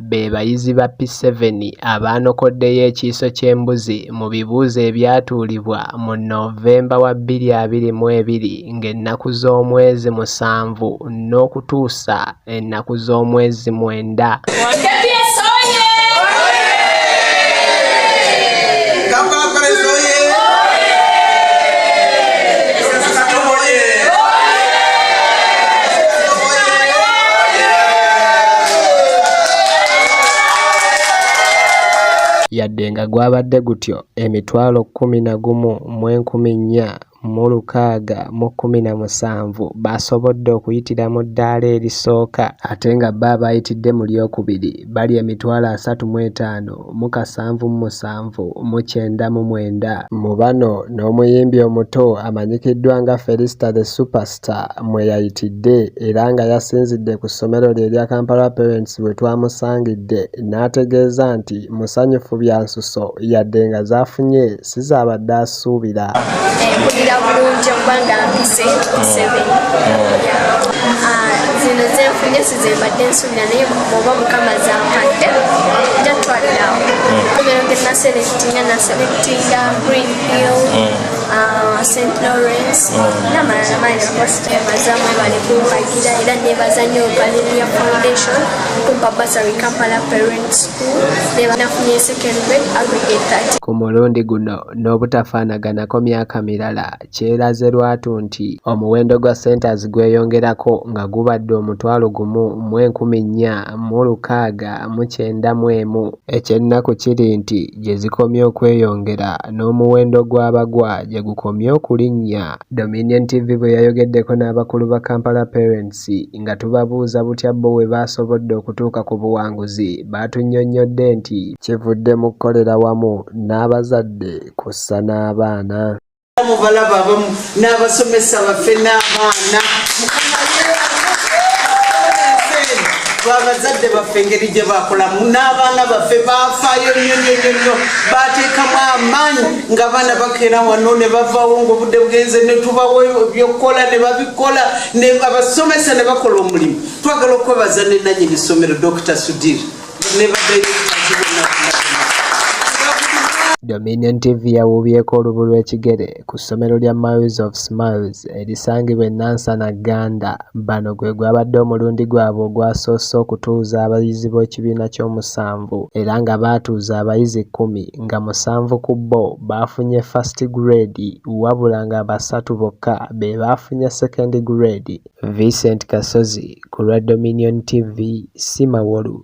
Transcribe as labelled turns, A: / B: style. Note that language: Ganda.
A: be bayizi ba P7 abaanokoddeyo ekiiso ky'embuzi mu bibuuzo ebyatuulibwa mu Novemba wa bbiri abiri mu ebiri ng'ennaku z'omwezi musanvu n'okutuusa ennaku z'omwezi mwenda. yadde nga gwabadde gutyo emitwalo kkumi na gumu mu enkumi nnya mu lukaaga mu kkumi na musanvu baasobodde okuyitira mu ddaala erisooka ate nga bo abaayitidde mu lyokubiri bali emitwalo asatu mu etaano mu kasanvu mu musanvu mu kyenda mu mwenda. Mu bano n'omuyimbi omuto amanyikiddwa nga Felista the Superstar mwe yayitidde era nga yasinzidde ku ssomero lye erya Kampala Parents we twamusangidde n'ategeeza nti musanyufu bya nsuso yadde nga zaafunye sizaabadde asuubira mpulira
B: bulungi okuba nga mpise museveni oh. ah, zino zenfunye sizembadde nsuubira naye oba mukama zampadde jatwalirawo omero oh. genaselekitinga naselekitinga green hill oh. ah, st lawrence namalala maina kositemazamu ebale kumpagira era nebaza nyo galenia foundation kumpa basary kampala parents ku mulundi guno
A: n'obutafaanaganako myaka mirala kyeraze lwatu nti omuwendo gwa centers gweyongerako nga gubadde omutwalo gumu mu enkumi nnya mu lukaaga mu kyenda mu emu ekyennaku kiri nti gye zikomye okweyongera n'omuwendo gw'abagwa gye gukomye okulinnya Dominion TV bwe yayogeddeko n'abakulu ba Kampala Parents Poliisi nga tubabuuza butya bbo we baasobodde okutuuka ku buwanguzi baatunnyonnyodde nti kivudde mu kukolera wamu n'abazadde kw'ossa n'abaana. Mubalaba
C: abamu n'abasomesa baffe n'abaana abazadde baffe engeri gye bakolamu n'abaana baffe bafaayo nnyo nnyo nnyo nnyo bateekamu amaanyi ng'abaana bakeera wano ne bavaawo ng'obudde bugenze ne tubawo ebyokukola ne babikola ne abasomesa ne bakola omulimu twagala okwebaza ne nanyini ssomero dr sudir ne badirekitazi
A: bonna Dominion TV yawuubyeko olubu lw'ekigere ku ssomero lya Miles of Smiles erisangibwa e Nansana Gganda. Bano gwe gwabadde omulundi gwabwe ogwasoose okutuuza abayizi b'ekibiina ky'omusanvu era nga baatuuza abayizi kkumi. nga musanvu ku bo baafunye First Grade wabula nga basatu bokka be baafunye Second Grade. Vincent Kasozi ku lwa Dominion TV, Simawolu.